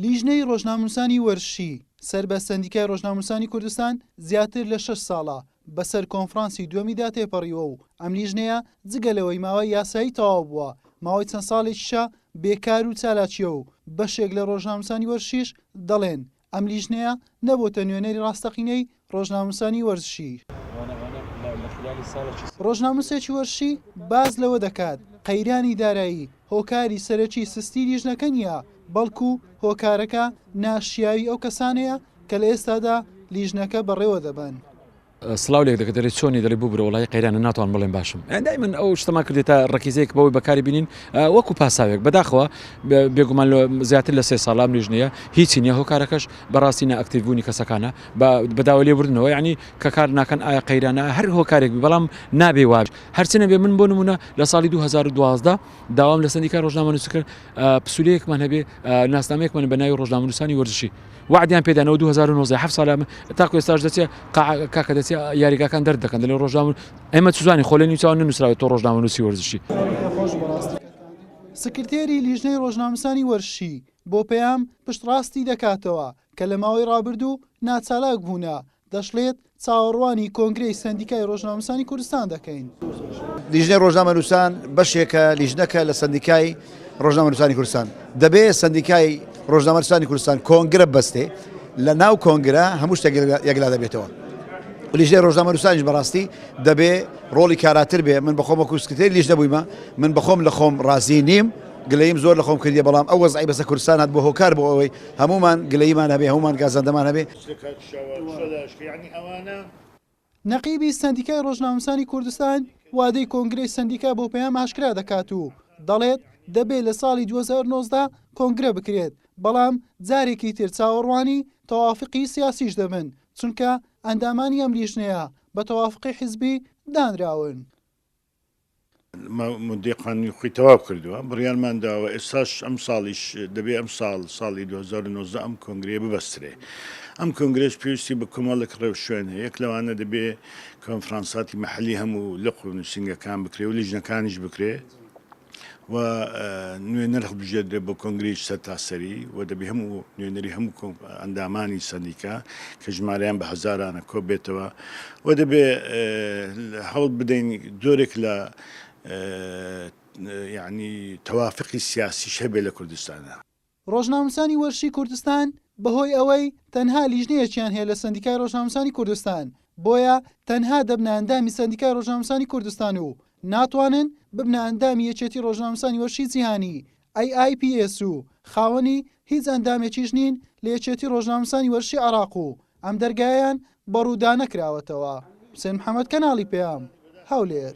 لیژنەی ڕۆژنامنووسانی وەرشی سەر بە سەندیکای ڕۆژنامنووسانی کوردستان زیاتر لە شەش ساڵە بەسەر کۆنفرانسی دووەمیدا تێپەڕیوە و ئەم لیژنەیە جگە لەوەی ماوەی یاسایی تەواو بووە ماوەی چەند ساڵێکیشە بێکار و چالاکیە و بەشێک لە ڕۆژنامنووسانی وەرشیش دەڵێن ئەم لیژنەیە نەبۆتە نوێنەری ڕاستەقینەی ڕۆژنامەنووسانی وەرزشی. ڕۆژنامەنووسێکی وەرزشی باس لەوە دەکات، قەیرانی دارایی هۆکاری سەرەکی سستی لیژنەکە نییە، بەڵکو هۆکارەکە ناشیاوی ئەو کەسانەیە کە لە ئێستادا لیژنەکە بەڕێوەدەبەن. سڵاو لێک دەکە دەلێ چۆنی دەلێ ببورە وەڵایی قەیرانە ناتوانم بڵێم باشم یان دایمن ئەو شتەمان کردێتە ڕەکیزەیەک بەوەی بەکاری بینین وەکو پاساوێک بەداخەوە بێگومان لە زیاتر لە سێ ساڵام لیژنەیە هیچی نیە هۆکارەکەش بەڕاستی ناکتیبوونی کەسەکانە بەداوە لێ بردنەوە ینی کە کار ناکەن ئایا قەیرانە هەر هۆکارێک بەڵام نابێ واژ هەرچنە بێ من بۆ نمونە لە ساڵی 2012 داوام لە سندیکا ڕۆژنامە نووسکرد پسولەیەکمان هەبێ ناسنامەیەکمان بە ناوی ڕۆژنامەنووسانی وەرزشی وەعدیان پێ دانەوە دوو هەزار و نۆزدە هەفت ساڵە تاکو ئێستاش دەچێ قاعە کاکە دەچێ یاریگاکان دەرد دەکەن دەلێ ڕۆژنامە ئێمە چوزانین خۆ لە نیوچاوە نەنووسراوێت تۆ ڕۆژنامەنووسی وەرزشی سکرتێری لیژنەی ڕۆژنامەسانی وەرشی بۆ پەیام پشتڕاستی دەکاتەوە کە لە ماوەی ڕابردوو ناچالاک بوونە دەشڵێت، چاوەڕوانی کۆنگرەی سەندیکای رۆژنامەنووسانی کوردستان دەکەین. لیژنەی رۆژنامەنووسان بەشێکە لیژنەکە لە سەندیکای رۆژنامەنووسانی کوردستان. دەبێت سەندیکای رۆژنامەنووسانی کوردستان کۆنگرە ببەستێ، لە ناو کۆنگرە هەموو شتێک یەکلا دەبێتەوە. لیژنەی رۆژنامەنووسانیش بەڕاستی دەبێ رۆڵی کاراتر بێ. من بەخۆم وەکوو سکرتێری لیژنە بوویمە، من بەخۆم لە خۆم رازی نیم، گلەییم زۆر لە خۆم کردیە، بەڵام ئەو وەزعەی بەسەر کوردستان هاتبووە هۆکار بووە ئەوەی هەموومان گلەییمان هەبێ، هەموومان گازەندەمان هەبێ. سکاک شەوە شە لاشکە یەعنی ئەوانە. نەقیبی سەندیکای ڕۆژنامەنووسانی کوردستان وادەی کۆنگرەی سەندیکا بۆ پەیام ئاشکرا دەکات و دەڵێت، دەبێت لە ساڵی دوو هەزار و نۆزدە کۆنگرە بکرێت، بەڵام جارێکی تر چاوەڕوانی تەوافقی سیاسیش دەبن، چونکە ئەندامانی ئەم لیژنەیە بە تەوافقی حزبی دانراون. ماددەی قانونی خۆی تەواو کردووە، بڕیارمان داوە ئێستاش ئەمساڵیش دەبێ ئەمساڵ ساڵی دوو هەزار و نۆزدە ئەم کۆنگرەیە ببەسترێ. ئەم کۆنگرەش پێویستی بە کۆمەڵێک ڕێوشوێن هەیە، یەک لەوانە دەبێ کۆنفرانساتی مەحەلی هەموو لق و نووسینگەکان بکرێ و لیژنەکانیش بکرێ، و نوێنەر هەڵبژێردرێت بۆ کۆنگرەی سەرتاسەری و دەبێ هەموو نوێنەری هەموو ئەندامانی سەندیکا کە ژمارەیان بە هەزارانە کۆ بێتەوە و دەبێ هەوڵ بدەین جۆرێک لە یعنی تەوافقی سیاسی شەبێ لە کوردستانە ڕۆژنامنووسانی وەرشی کوردستان بەهۆی ئەوەی تەنها لیژنەیەکیان هەیە لە سەندیکای ڕۆژنامنووسانی کوردستان، بۆیە تەنها دەبنە ئەندامی سەندیکای ڕۆژنامنووسانی کوردستان و ناتوانن ببنە ئەندامی یەکێتی ڕۆژنامنووسانی وەرشی جیهانی، AIPS، و خاوەنی هیچ ئەندامێکیش نین لە یەکێتی ڕۆژنامنووسانی وەرشی عێراق و ئەم دەرگایەیان بە ڕوودا نەکراوەتەوە. حوسێن محەمەد، کەناڵی پەیام، هەولێر.